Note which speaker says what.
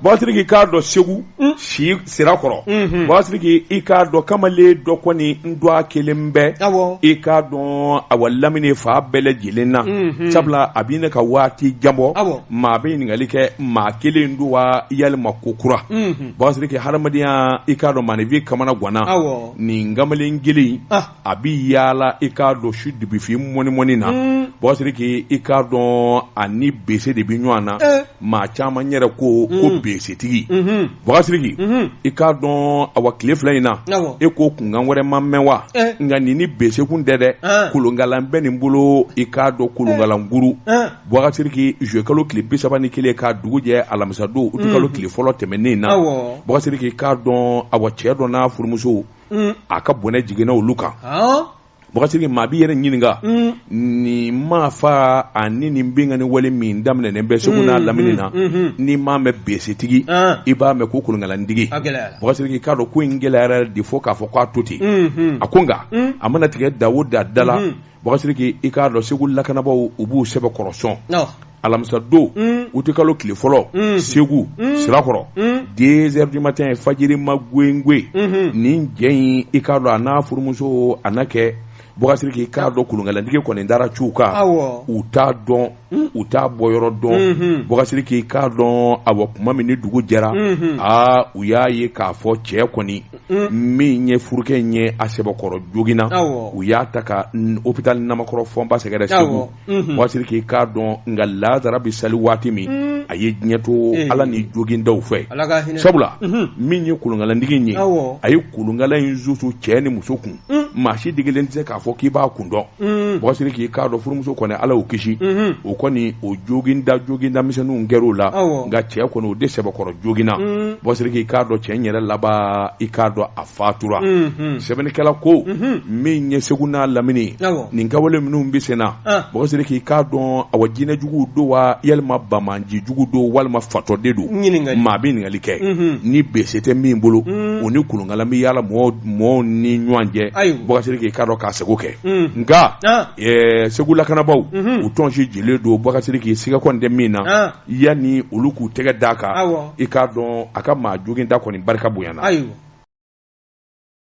Speaker 1: Bakasiriki i k'a dɔn segu si sira kɔrɔ Bakasiriki i k'a dɔn kamalen dɔ kɔni n don a kelen bɛ i k'a dɔn awa lamini fan bɛɛ lajɛlen na sabula a bɛ na ka waati jan bɔ maa bɛ ɲininkali kɛ maa kelen don wa walima ko kura Bakasiriki hadamadenya i k'a dɔn maaninfin kamana ganna nin kamalen kelen a bɛ yaala i k'a dɔn su dibifin mɔni mɔni na Bakasiriki i k'a dɔn a ni bese de bɛ ɲɔgɔn na maa caman yɛrɛ ko ko besetigi Bakasiriki i k'a dɔn awa tile fila in na e ko kunkan wɛrɛ ma mɛn wa nka nin ni besekun tɛ dɛ kolonkala bɛ nin bolo i k'a dɔn kolonkalanguru Bakasiriki zuluye kalo tile bisaba ni kelen ka dugu jɛ alamisadon uti kalo tile fɔlɔ tɛmɛnen na Bakasiriki i k'a dɔn awa cɛ dɔ n'a furumuso a ka bɔnɛ jiginna olu kan Bakasiriki maa b'i yɛrɛ ɲininka nin maa fa ani nin binkanni wale min daminɛnen bɛ Segu n'a lamini na n'i m'a mɛn besetigi i b'a mɛn ko kolonkalantigi Bakasiriki i k'a dɔn ko in gɛlɛyara de fo k'a fɔ k'a to ten a ko nka a mana tigɛ da o da da la Bakasiriki i k'a dɔn segu lakanabagaw u b'u sɛbɛkɔrɔ sɔn alamisa don uti kalo tile fɔlɔ segu sirakɔrɔ deux heures du matin fajiri magɛn nin cɛ in i k'a dɔn a n'a furumuso a kɛ Bakasiriki i k'a dɔn kolonkalantigi kɔni taara cun u kan u t'a dɔn Hmm. u t'a bɔyɔrɔ dɔn hmm, hmm. Bakasiriki i k'a dɔn awa tuma min ni dugu jɛra aa u y'a ye k'a fɔ cɛ kɔni min ye furukɛ in ye a sɛbɛkɔrɔ joginna u y'a ta ka hôpital ɲanankɔrɔ fɔnba sɛgɛrɛ segu Bakasiriki i k'a dɔn nka lansara bɛ sali waati min a ye diɲɛ to eh. ala ni jogindaw fɛ sabula min ye kolonkalantigi in ye a ye kolonkala in susu cɛ ni muso kun maa si sigilen tɛ se k'a fɔ k'i b'a kun dɔn Bakasiriki i k'a dɔn furumuso kɔni ala y'o kisi o kɔni o joginda jogindamisɛnninw kɛra o la nka cɛ kɔni o de sɛbɛkɔrɔ joginna Bakasiriki i k'a dɔn cɛ in yɛrɛ laban i k'a dɔn a fatura sɛbɛnnikɛla ko min ɲɛ segu n'a lamini nin kɛwale minnu bɛ senna Bakasiriki i k'a dɔn awa jinɛjugu don wa walima bana ji jugu don walima fatɔ de don maa bɛ ɲininkali kɛ Mhm. ni bese tɛ min bolo o ni kolonkala bɛ yaala mɔgɔw mɔgɔw ni ɲɔgɔn cɛ Ayiwa. Bakasiriki i k'a dɔn k'a seko kɛ Mm. nka Ah. ɛɛ, segu lakanabaaw Mhm. u tɔnsigilen don Bakasiriki siga kɔni tɛ min na Ah. yanni olu k'u tɛgɛ d'a kan Awɔ. i k'a dɔn a ka maa jogin da kɔni barika bonyana ayiwa